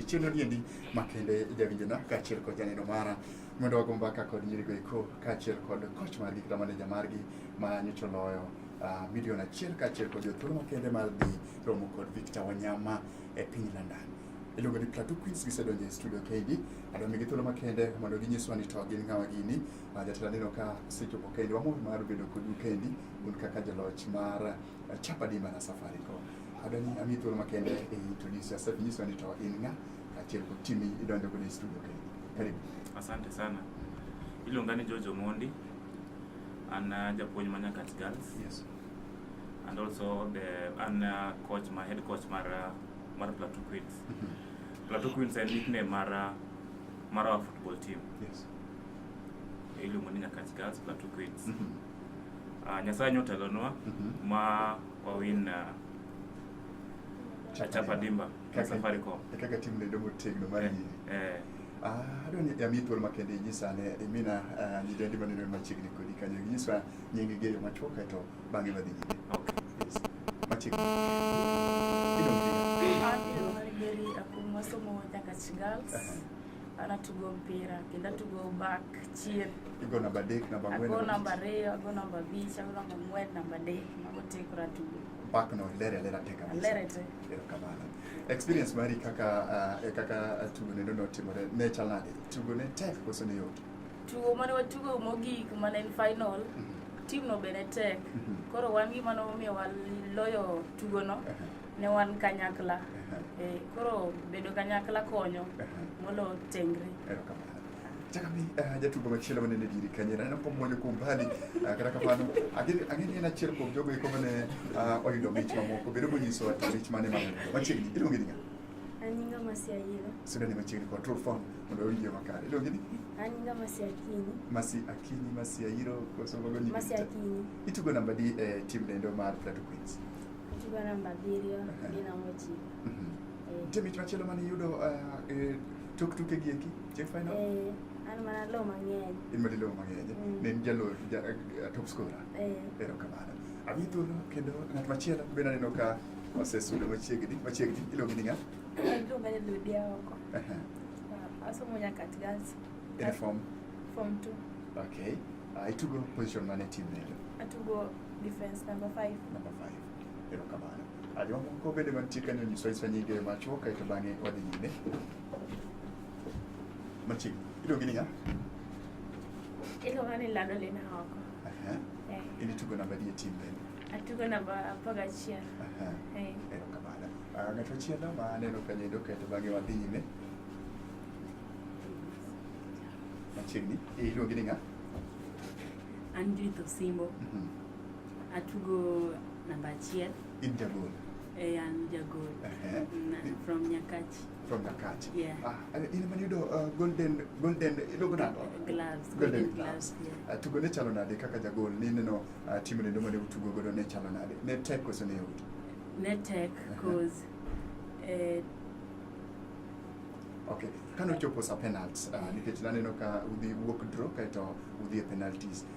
chieng' odiendi makende jawinjona kaachiel kod janeno mara mondo wago mbaka kod nyirigo eko kaachiel kod koch margi kata maneja margi ma nyocha oloyo uh, milion achiel kaachiel kod jothuolo makende mar dhi romo kod Victor Wanyama e piny London. Iluongo ni Plateau Queens gisedonjo e studio kendi adwa migi thuolo makende mondo ginyiswa ni to gin ng'awa gini. Uh, jatelo aneno ka osechopo kendi, wamor mar bedo kodu kendi un kaka jaloch mar uh, Chapa Dimba na Safaricom. Adwa ni ami thuolo makende e introduce yourself, inyiswa ni to in ng'a kaachiel kod timi idonjo godo e studio kendi. Karibu. Asante sana. Iluonga ni George Omondi And uh, Japuonj Manyakat Girls. Yes. And also the and uh, coach my head coach mar uh, mar Plateau Queens. Mm-hmm. Plateau Queens en nickname mar uh, mar our football team. Yes. Iluongo ni Nyakach Girls Plateau Queens. Mm -hmm. Uh, Nyasaye nyotelonwa mm -hmm. ma wawin uh, Chapa Dimba. ka Safaricom. E kaka tim lendo motegno mar nyiri. Eh. Ah, adwa ni ami thuolo makende inyisa ne imina ah, nyidendi maneno machiegni kodi kanyo inyiswa nyingi geyo machuok kae to bang'e wadhi nyime. Yes. Machiegni. Mary Akumwa somo Nyakach Girls. Anatugo mpira kendo atugo back chien. Igo namba adek, namba ang'wen. Ago namba ariyo, ago namba abich, ago namba ang'wen, namba adek. Mago te koro atugo. Back no ilere alera te kabisa. Alere te. Experience mari kaka uh, e kaka tugo neno notimore ne chal nade? Tugo ne tek koso ne yot? Tugo mane watugo mogik mane en final mm -hmm. team no bene tek mm -hmm. koro wan gima nomiyo waloyo tugo no uh -huh. ne wan kanyakla uh -huh. e, koro bedo kanyakla konyo uh -huh. molo tengre. Erokamano. Chakabi uh, jatugo machielo mane ne diri kanye na ko moyo ko mbali uh, kata kamano ageni ageni na chiel ko jogo iko mane uh, oyudo mich mamoko bedo mo nyiso ati mich mane ma machiegni iluongi ni Anyinga masia yilo. Sudan ni machiegni ko true form mondo oyie makare iluongi ni Anyinga masia kini. Masi akini masia yiro ko so mago ni Masia kini. Itugo namba di eh, team nendo mar Plateau Queens. Itugo namba 7 ni namba 9. Mhm. Eh. Team ich machielo mane yudo uh, eh, Tuk tuke gi eki, che final? Eh, an mana lo mang'eny. In madi lo mang'eny. Mm. Ne in jalo ja, uh, top scorer. Eh. Ero kamano. Abi thuolo kendo ng'at machielo be naneno ka osesudo machiegni machiegni iluongi ni ng'a? Iluonga ni Ludia oko. Aha. Ah, Asomo Nyakat Girls. In a form. Form 2. Okay. Uh, itugo position mane e team lendo? Atugo defense number 5. Number 5. Ero kamano. Jomamoko bende mantie kanyo nyiso isa nyinge machuok kaeto bang'e wadhi nyime. Machiegni. Iluongi ni ng'a? Iluonga ni Lado Lina Oko. Aha. Eh, In itugo namba adi e tim bende? Atugo namba apar gachiel. Aha. Eh, Erokamano. Ah, Ng'at machielo ma aneno kanyo endo kaeto bang'e wadhi nyime. Machiegni. Iluongi ni ng'a? An Judith Osimbo. Mhm. Atugo namba achiel. In jagol? Eh, an jagol. Uh -huh. Na, from Nyakachi. From Nyakachi. Yeah. Ah, in man yudo uh, golden golden iluongo nado? Gloves. Golden, golden gloves. Yeah. Uh, tugo ne chalo nade kaka jagol ni neno uh, timu lendo mane utugo godo ne chalo nade? Ne tek koso ne yot? Ne tek cause uh -huh. eh, Okay. Kano chopo sa penalties uh, nikech naneno ka udhi wuok draw kaito udhi e penalties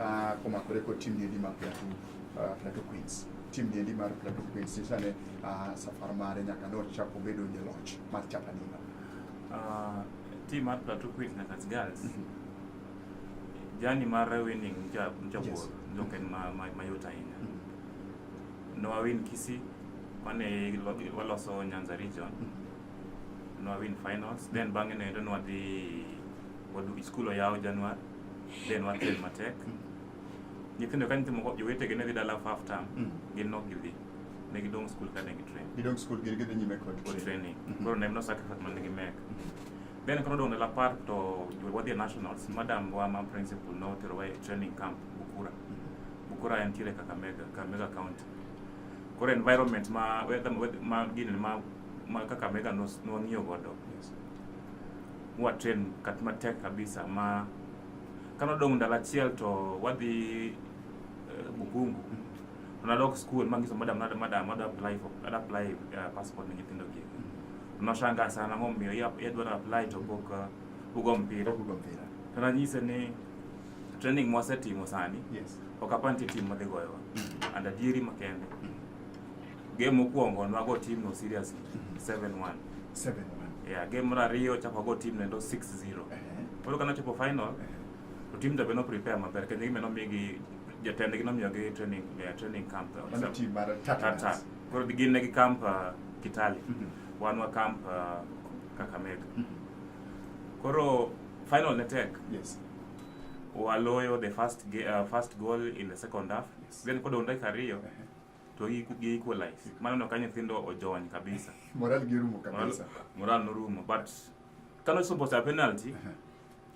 Uh, komakore kod tim niendi mar Plateau, uh, Plateau Queens tim niendi mar Plateau Queens sisane uh, ah, safar mare nyaka ne ochako bedo jaloch mar chapadino uh, tim mar Plateau Queens nyaka girls mm -hmm. jani mar winning mchapor yes. ndoke mm -hmm. ma, ma, yota ina mm -hmm. no awin kisi wane waloso Nyanza region mm -hmm nwa win finals then bang'e noendo nwadhi school oyaw January then wakel matek nyithindo ka nyithindo moko jowetegi ne dhi dala for half term Mm. gin nok gidhi ne gidong' skul ka ne gitrain Gidong skul gin gidhi nyime kod kod training Mhm. koro ne en no sacrifice man gi mek then koro dong' dala par to jo- wadhi e nationals madam wa ma principal noterowa e training camp bukura bukura en tiere kakamega kakamega county koro environment ma weather- weather- ma gini ma ma kakamega nos- nwang'iyo godo Yes. mwa train kat matek kabisa ma kano dong ndalo achiel to wadhi uh, Bukungu unadok school mangiso madam madam madam madam apply for madam apply uh, passport ni nyithindo gi unashanga sana ngom mio yap yadwa apply to book uh, ugo mpira ugo mpira tana nyise ni training mwasetimo sani yes okapanti timu madhi goyowa mm. and adieri makende mm. Game mokwongo nwago team no serious 7-1. 7-1. Yeah, game mar ariyo chako go team nendo 6-0. Koro kana chopo final to team jabe no prepare maber kendo gimeno migi jatendgi nomiyogi training yeah, training camp. Mano team mar Tata. Koro gin ne gi camp uh, Kitale. Mm -hmm. Wan wa camp uh, Kakamega. Mm -hmm. Koro final ne tek. Yes. Waloyo the first, uh, first goal in the second half. Yes. Then kod dakika ariyo. Uh -huh. to gi gi equalize mano no ka nyithindo ojony kabisa moral gi rumo moral, kabisa moral norumo but kano suppose a penalty Aha.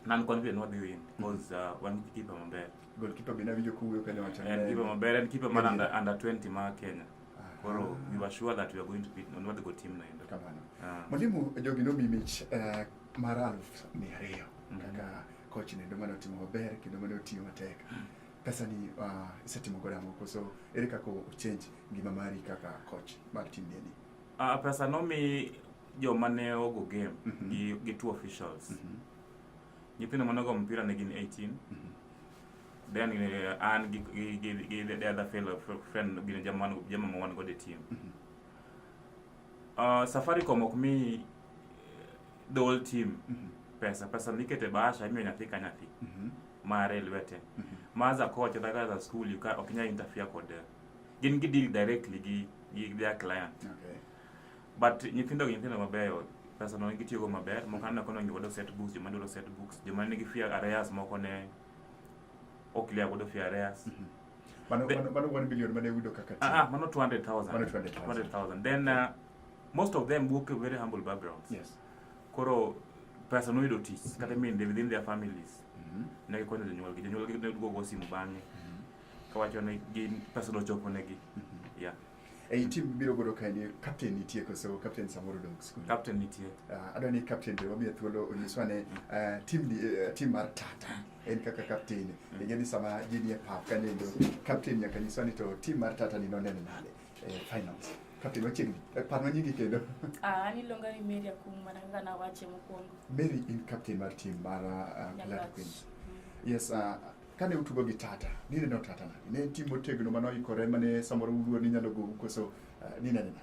nan confident wadhi win because uh, wan gi kipa maber goalkeeper bende awinjo kuwuoyo kane wacho en kipa maber en kipa mar under, under 20 ma Kenya koro we were sure that we are going to beat non wadhi go team no endo kamano Ah. mwalimu jogi nomi mich eh, mar aluf mia ariyo Mhm. kaka coach nendo mane otimo maber kendo mane otiyo matek pesa ni uh, ah, isetimo godo ang'o koso ere kaka ochange ngima mari kaka coach mar tim ni uh, pesa nomi joma ne ogo game mm -hmm. gi, gi two officials mm -hmm. nyithindo manogo mpira ne gin 18 mm -hmm. then uh, an gi, gi, gi, gi the other fellow friend gin jama jama ma wan godo e team mm -hmm. uh, safaricom ok mi the whole team mm -hmm. pesa pesa mikete bahasha imiyo nyathi ka nyathi mm -hmm. mare lwete mm -hmm. maza kocha kata za school you can okinya interfere kod eh, gin gi deal directly gi gi their client okay. but nyithindo gi nyithindo mabeyo pesa no gitiyo go maber moko aneno kono ngi wado set books joma dwaro set books joma nigi fear areas moko ne ok clear godo fear areas mm -hmm. mano, mano, mano 1 billion mane uyudo kaka ah, ah, mano 200,000 200,000 then uh, most of them work a very humble backgrounds yes. koro pesa noyudo tich mm. kata minde within their families mm -hmm. ne gikonyo jonyuolgi jonyuolgi ne duogo simu bang'e mm -hmm. kawacho ne gin pesa nochopo negi mm -hmm. yeah ei tim biro godo ka ni captain nitie koso captain samoro dong skul captain nitie uh, ah, adwa ni captain be wamiye thuolo onyiswa ne uh, ah, tim ni uh, eh, tim mar tata en kaka captain mm. ing'e ni sama ji nie pap kanendo captain nyaka nyiswa ni to tim mar tata ni noneno nade eh, finance kapil wachiegni eh, par ma nyingi kendo Ah, an iluonga ni Mary Akum mana kaka nawache mokwongo. mary in captain mar tim mar uh, Nyakach. Glad queens yes uh, kane utugo gi tata nine no tata nani ne en tim motegno mane oikore mane samoro uluor ni nyalo gowu koso uh, nine nina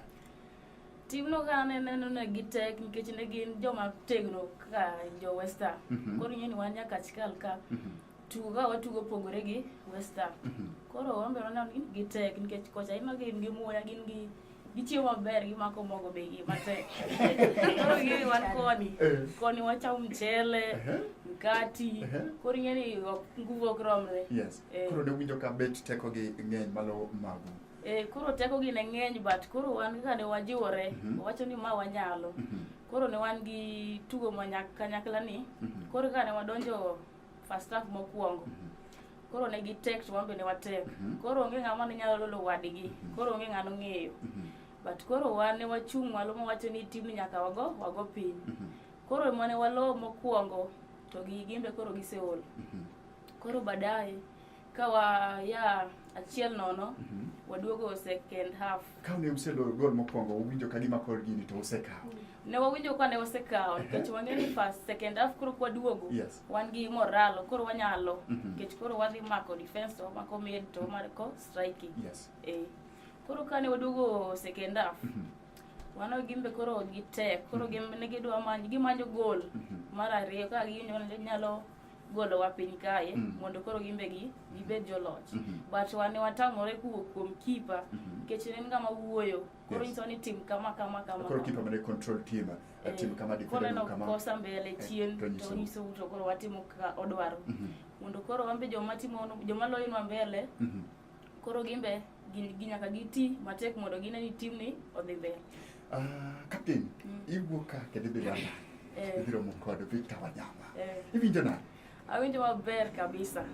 Timno ka ne neno ne gitek nikech ne gin joma tegno kaka jo Western. Mhm. Koro ing'e ni wan nyaka chikal ka Mhm. tugo ka watugo pogore gi West Ham. Mhm. Koro wambe waneno ni gitek nikech kocha ema gin gi muya gin gi gichiemo maber gimako mogo be gi matek. Koro gini wan koni. Eh. Koni wachamo mchele, Ehe. mkati. Ehe. Koro ing'e ni ok- nguvu ok romre. Yes. Eh. Koro ne winjo ka bet teko gi ng'eny malo magu. Eh, koro teko gi ne ng'eny but koro wan kaka ne wajiwore Mhm. wawacho ni ma wanyalo. Mhm. Koro ne wan gi tugo ma nyak- kanyakla ni. Mhm. Koro kaka ne wadonjo first half mokwongo mhm. koro ne gi tek to wambe ne watek mhm. koro onge ng'ama ne nyalo lolo wadgi mhm. koro onge ng'ano ng'eyo but koro wan ne wachung' malo mowacho ni tim nyaka wago wago piny koro mane walo mokwongo to gi gimbe koro giseol koro baadaye Ka waya achiel nono, Mhm. waduogo second half. Ka ne useloyo gol mokwongo, uwinjo ka gima kor gini to usekawo. Ne wawinjo ka ne wasekawo nikech wang'eyo ni first second half koro kwaduogo Yes. wan gi moralo koro wanyalo Mhm. nikech koro wadhi mako defense to wamako mid to wamako striking. Yes. Eh. Koro ka ne waduogo second half Mhm. wano gimbe koro gitek koro gimbe ne gidwa manyo gimanyo gol Mhm. mar ariyo ka ginyalo nyalo golowa piny kae mm. mondo koro gimbe gi gibed mm-hmm. joloch mm -hmm. but wane watamore kuwuok kuom kipa mm -hmm. nikech en ngama wuoyo koro yes. nyiso ni tim kama kama kama koro kipa mane control tim eh, tim kama dikore no kama kosa mbele eh, chien eh, to nyiso to koro watimo ka odwaro mm -hmm. mondo koro wambe joma timo joma loyinwa mbele mm -hmm. koro gimbe ginyaka giti matek mondo gine ni timni odhi mbele ah, kapten mm. iwuok ka kendo ibiro ana eh. ibiro mo kod victor wanyama eh. iwinjo nade awinjo maber kabisa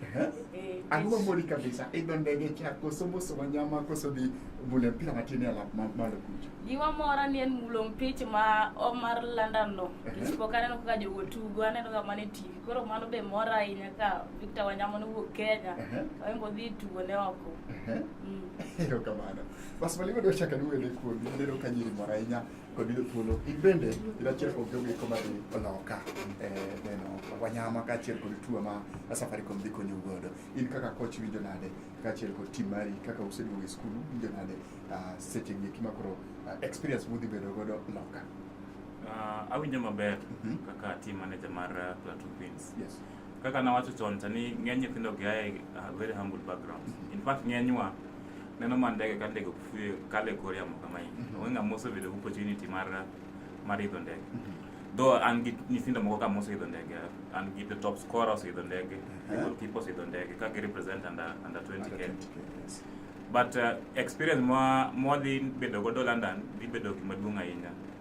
eh, ang'o mamori kabisa idho ndege cha koso moso wanyama koso dhi mulo mpira matin e alap malo kucha gima mora ni en mulo mpich ma omar london no isipoka aneno kaka jogo tugo aneno kaka mane tv koro mano be mora ahinya ka Victor Wanyama no wuok Kenya. Ehe. Oingo dhi tugo ne oko. Ehe. Mm. erokamano bas malimo dwa chaka ni wele kuomi neno ka nyiri moro ahinya kod yudo thuolo in bende in achiel kuom jogo eko madhi oloka eh, neno wanyama kaachiel kod tuo ma safaricom dhi konyo godo in kaka koch winjo nade kaachiel kod tim mari kaka useduogo e skul winjo nade ah, seche gi eki ma koro ah, experience mudhi bedo godo loka Ah, awinjo maber Mhm. kaka team manager mar uh, Plateau Queens yes Kaka nawacho chon cha ni ng'eny nyithindo gi aye uh, very humble backgrounds. In fact ng'enywa neno ma ndege ka ndege kufue kale kor yamo kama hii. Mhm. Onge ng'ama osebedo opportunity mar mar idho ndege. Mhm. Though an gi nyithindo moko kama oseidho ndege, an gi the top scorer oseidho ndege, the uh-huh. goalkeeper oseidho ndege ka gi represent under under 20k. But uh, experience mwa mwa dhi bedo godo London dhi bedo gima duong' ahinya.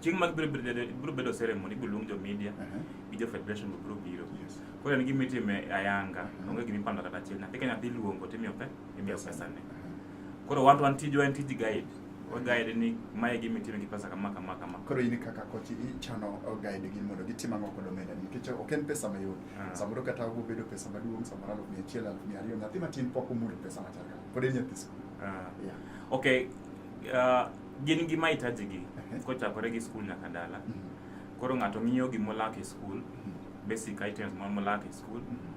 chieng' mag biro bedo- biro bedo ceremony ibiro luong jo media gi jo federation be biro biro koro en gima itime ayanga onge gima ipando kata achiel nyathi ka nyathi iluongo timiyo pe imiyo pesane koro wan to wan tijwa en tij guide wa guide ni mae gima itime gi pesa kama kama kama koro in kaka koch ichano guide gi mondo gitim ang'o kod omenda ni nikech ok en pesa mayot Ah. samoro kata obo bedo pesa maduong' samoro aluf mia achiel aluf mia ariyo nyathi matin pok omulo pesa machal kama pod en nyathi skul Ah. Yeah. okay ah, Gin gi mahitaji gi kochakore gi skul nyaka dala. Mm-hmm. Koro ng'ato ng'iyo gima olak e skul, mm-hmm. basic items ma molak e skul. Mm-hmm.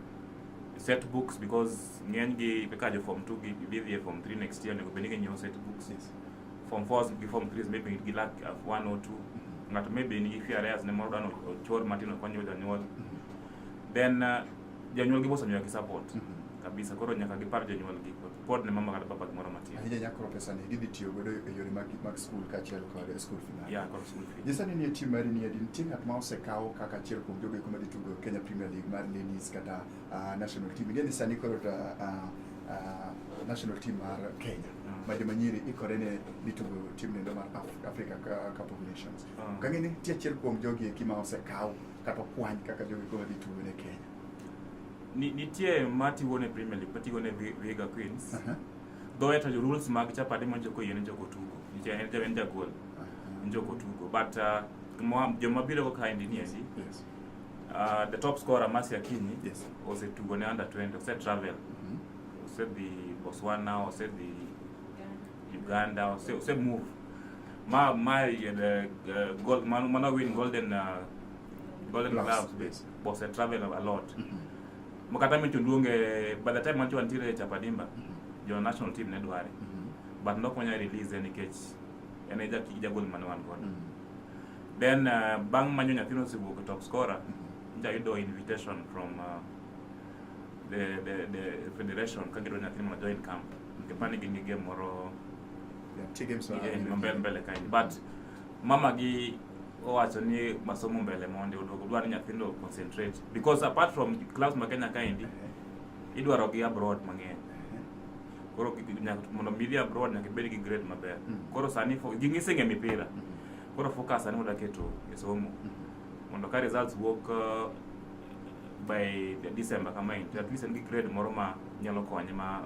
Set books because ng'eny gi kaka jo form 2 gi bidhi e form 3 next year onego bed ni ginyiewo set books. Yes. Form 4 gi form 3 maybe gilak uh, one or two. Ng'ato maybe nigi few areas ne moro dwani ochor matin okonyo jonyuol. Then uh, janyuolgi mosenyoya gi support mm -hmm kabisa koro nyaka gipar jonyuolgi pod ne mama kata papa gimoro matin ahinya nyakoro pesa ni gidhi tiyo godo e yore mag mag skul kaachiel kod skul fee ya kod skul fee jisani nie tim mari ni adi nitie ng'at ma osekaw kaka achiel kuom jogo eko madhi tugo Kenya Premier League mar ladies kata uh, national team ingeni sani koro ta, uh, uh, national team mar Kenya mm. ma joma nyiri ikore ne ditugo tim nendo mar Africa Cup of Nations. Mm. Kang'e ni nitie achiel kuom jogi eki ma osekaw kata okwany kaka jogi koro dhi tugo ne Kenya. Ni- nitie ma tigo ne premier league matigo ne Vi- viga queens Aha, thoe to rules mag chapade ma joko yien joko tugo nitie en en jagol aha, joko tugo but uh, gima- joma biro go kaendi ni endi Yes. uh, the top scorer Mercy Akinyi Yes. osetugo ne under 20 ose travel Mhm. osedhi Botswana osedhi Uganda ose, ose move Ma ma ye the uh, gold man man win golden uh, golden Gloves, gloves yes. was a travel a lot. Mhm. Makata mi tuluonge by the time mancho antire chapadimba Mhm. jo national team ne dware Mhm. but nok manya release en nikech en e jaki ja gold man wan godo. Mhm. Then uh, bang manyo nyathino siwuok top scorer Mhm. jayudo invitation from uh, the, the, the federation ka gidwa nyathino mondo join camp kipani gin gi game moro mbele mbele kaini but mama gi owacho ni masomo mbele mondi oduogo dwaro nyathindo concentrate because apart from class ma Kenya kaendi idwaro gi abroad mang'eny koro mondo midhi abroad nyaka ibed gi grade maber mm. koro sani giseng'e mipira mm. koro focus sani moda keto e somo mm. mondo ka results wuok uh, by December kama in at least en gi grade moro ma nyalo konye ma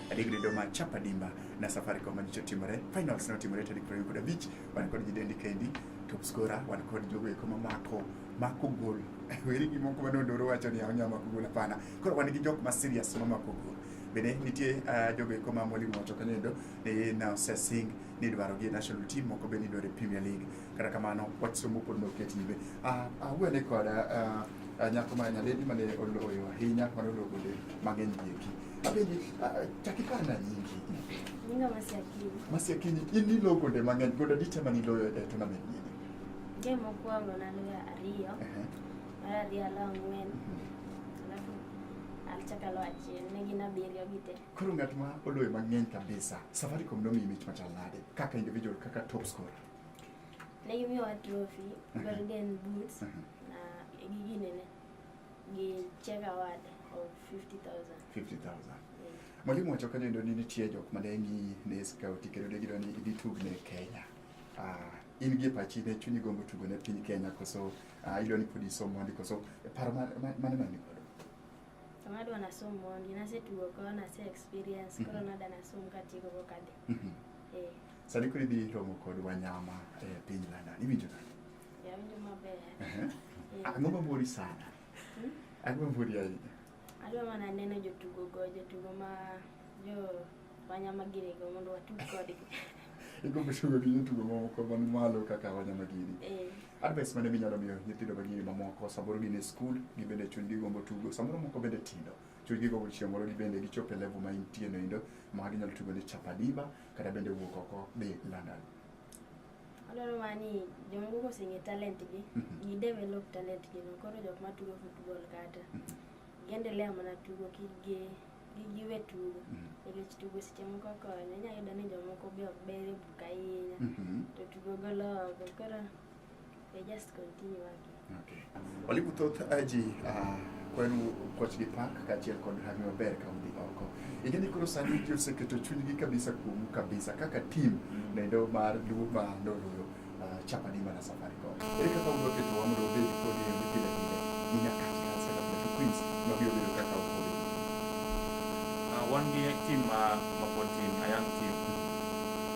Adi gredo ma chapa dimba na safari kwa majicho timore. Finals na timore tadi kwa yukuda beach. Wana kwa jidendi kendi. Top scorer. Wana kwa jidogo ya kuma mako. Mako goal. Wili ki moko wano ndoro wacho ni haonya mako goal apana. Kwa wani kijok ma serious ma mako goal. Bene nitie uh, jogo eko ma mwalimu wacho kanendo ni na osesing ni dwaro gi national team moko be ni dwaro Premier League. Kata kamano wach somo pod no ketibe. Ah uh, uh, wene koda uh, uh, nyako ma nyaledi mane oloyo ahinya mane oloyo gonde mang'eny gieki. Mapenzi takikana nyingi. Ninga masiakini. Masiakini ini lo konde mang'eny goda ditema ni loyo e tournament ni. Game mokwongo naloyo ariyo. Mar ariyo alo ang'wen. Mhm. Alafu alichaka lo achiel ne gin abiriyo gi te. Koro ng'at ma oloyo mang'eny kabisa. Safaricom nomiyi mich machal nade kaka individual kaka top scorer. Ne gimiyowa trophy, mhm. golden boots mhm. na gigi nene. gi check award of 50,000. 50,000. Mwalimu wacho kanyo endo ni nitie jok mane ng'i ne scout kendo ne gidwa ni idhi tug ne Kenya. Ah, in gi e pachi ne chunyi gombo tugo ne piny Kenya koso ah, idwa ni pod isom mondi koso e paro ma- ma- mane mani godo. Sama adwa nasom mondi, nasetugo koro nase experience, koro Mhm. nada nasom katieko go kadhi. Mhm. Eh, Sani koro idhi romo kod wanyama e piny London. Iwinjo nade? Yawinjo maber. Ehe. Eh, Ang'o ma mori sana? hmm? Ang'o ma mori ahinya? Adwa mana neno jotugo go, jotugo ma jo wanyama giri go mondo watug kodgi. Igombo tugo gi jotugo mamoko man malo kaka wanyama giri. Eh, Advice mane minyalo miyo nyithindo ma giri mamoko samoro gin e skul, gibende chunygi gombo tugo, samoro moko bende tindo. Chunygi gombo chieng' moro gibende gichop e level ma intie no endo ma ginyalo tugo ne Chapadiba kata bende wuok oko dhi London. Adwaro mana ni joma koko oseng'e talent gi, gi develop talent gi no. Koro jok ma tugo football kata, gi endelea mana tugo kik gi kik giwe tugo. Nikech tugo seche moko konyo, inya yudo ni jomoko be ok ber e buk ahinya, to tugo golo oko. Koro They just continue working. Okay. Walimu thoth aji uh, ah, kwenu Kochgi Park kaachiel kod Rami Maber ka udhi oko. Ingeni koro sani ji oseketo chunygi kabisa kuomu kabisa kaka team mm. nendo mar Luo ma noloyo uh, ah, chapa ni mana safari ko. Ere kaka udwa keto wa mondo obedi kodi e mbi pile pile. Nina kati kati kata pile to Queens ma biyo biyo kaka ukodi. Uh, ah, one team uh, mapod team, a young team.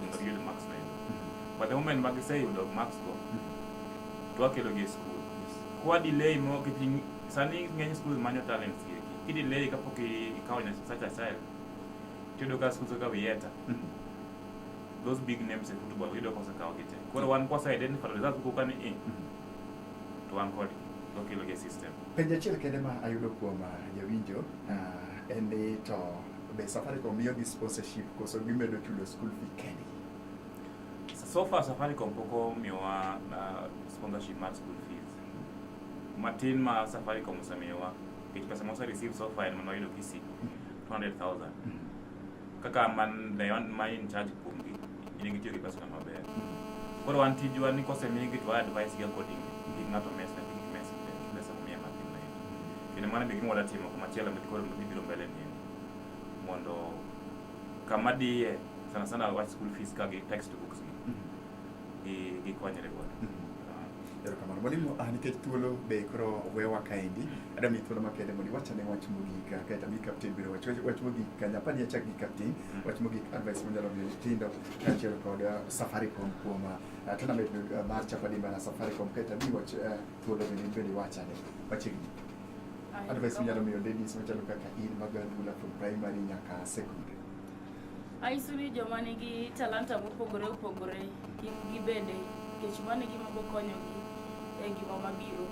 mondo giyud marks ma yudo. But the moment ma giseyudo marks go, to wakelogi e skul. Kwa delay mo kijing sani ng'eny skul manyo talents gi eki. Ki delay kapok i- ikawo nya such a child, tiyudo ka skul kaka Vieta, those big names e football yudo ka osekawo gi te. Koro wan kwase identify to results kuka ni eh, to wan kodgi, to wakelogi e system. Penjo achiel kende ma ayudo kuom ah, jawinjo ah, en ni to Be Safaricom miyogi sponsorship koso gimedo chulo school fee kendgi? So far Safaricom pok omiyowa uh, sponsorship mar school fees. Matin ma Safaricom osemiyowa nikech pesa mose receive so far en mana wayudo kisi 200,000 kaka man the one ma in charge kuomgi in gitiyo gi pesano maber. Koro wan tijwa ni kosemiyi gi to wa advice gi according gi ng'ato mes na gi mes pesa momiye matin na endo. Kendo mano be gima wadatimo kuma chielo mit koro mibiro mbele ni endo. Mondo kama diye sana sana wach school fees ka gi textbooks gi gi gikonyre godo. Ah. Erokamano mwalimu, ah, nikech thuolo be koro wewa kaendi. Adam ni thuolo makende mondo iwachane wach mogik kae to mi kapten biro wach wach mogik ka nyapa ni achak gi kapten mm. wach mogik advice mo nyalo miyo tindo kaachiel kod uh, Safaricom kuom uh, tournament uh, mar chapa dimba na Safaricom kae to mi wach thuolo bende bende iwachane machiegni advice mo nyalo miyo ladies machalo kaka in magadula from primary nyaka secondary Anyiso ni joma nigi talanta mopogore opogore kik gibede nikech mano e gima bokonyogi e ngima mabiro.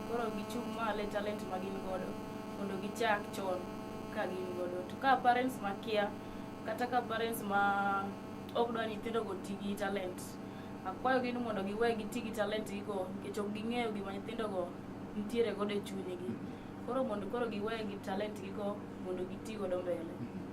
Koro gichung' malo e talent ma gin godo mondo gichak chon ka gin godo. To ka parents makia kata ka parents ma ok dwa nyithindo go ti gi talent, akwayogi ni mondo giwe giti gi talent gi go nikech ok ging'eyo gima nyithindo go nitiere godo e chunygi. Koro mondo koro giwe gi talent gi go mondo giti godo mbele.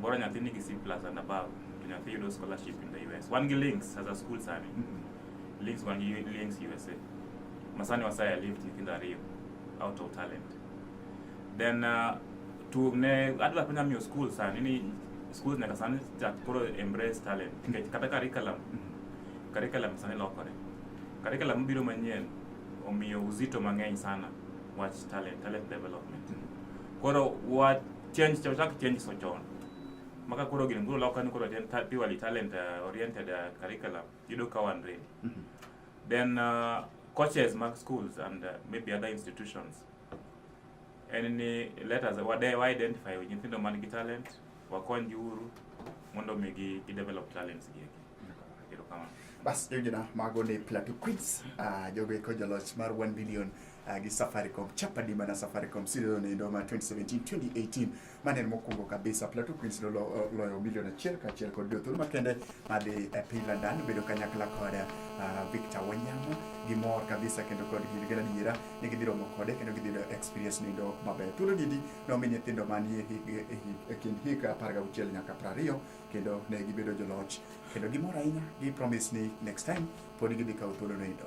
Bora nyathi nigi C plus and above, to nyathi yudo scholarship in the US. Wan gi links as a school sani. Mm-hmm. Links wan gi links USA. Masani wasaya lift nyithindo ariyo out of talent. Then uh, to ne adwa penya miyo school sani ni schools nyaka sani chak koro embrace talent. Nikech kata curriculum, mm-hmm. curriculum sani lokore. Curriculum biro manyien omiyo uzito mang'eny sana wach talent, talent development. Mm-hmm. Koro wat change cha chak change so chon maka koro gin guro lokani koro ten purely talent uh, oriented uh, curriculum yudo ka wan ready mm -hmm. then uh, coaches mag schools and uh, maybe other institutions en ni let us wade wa identify nyithindo man gi talent wakony giuru mondo mi gi, gi develop talents gi erokamano bas jojona mago ni plateau queens uh, jogo eko joloch mar 1 billion uh, gi Safaricom chapa dimba na Safaricom season endo ma 2017 2018 mane en mokwongo kabisa Plateau Queens no uh, loyo milion achiel kaachiel kod jothuolo makende madhi e piny London bedo kanyakla kod uh, Victor Wanyama gimor kabisa kendo kod gin gin adiera ni gidhi romo kode kendo gidhi yudo experience nindo maber thuolo gidi nomi nyithindo manie e kind hik apar gauchiel nyaka prariyo kendo ne gibedo joloch kendo gimor ahinya gi promise ni next time pod gidhi kawo thuolo nindo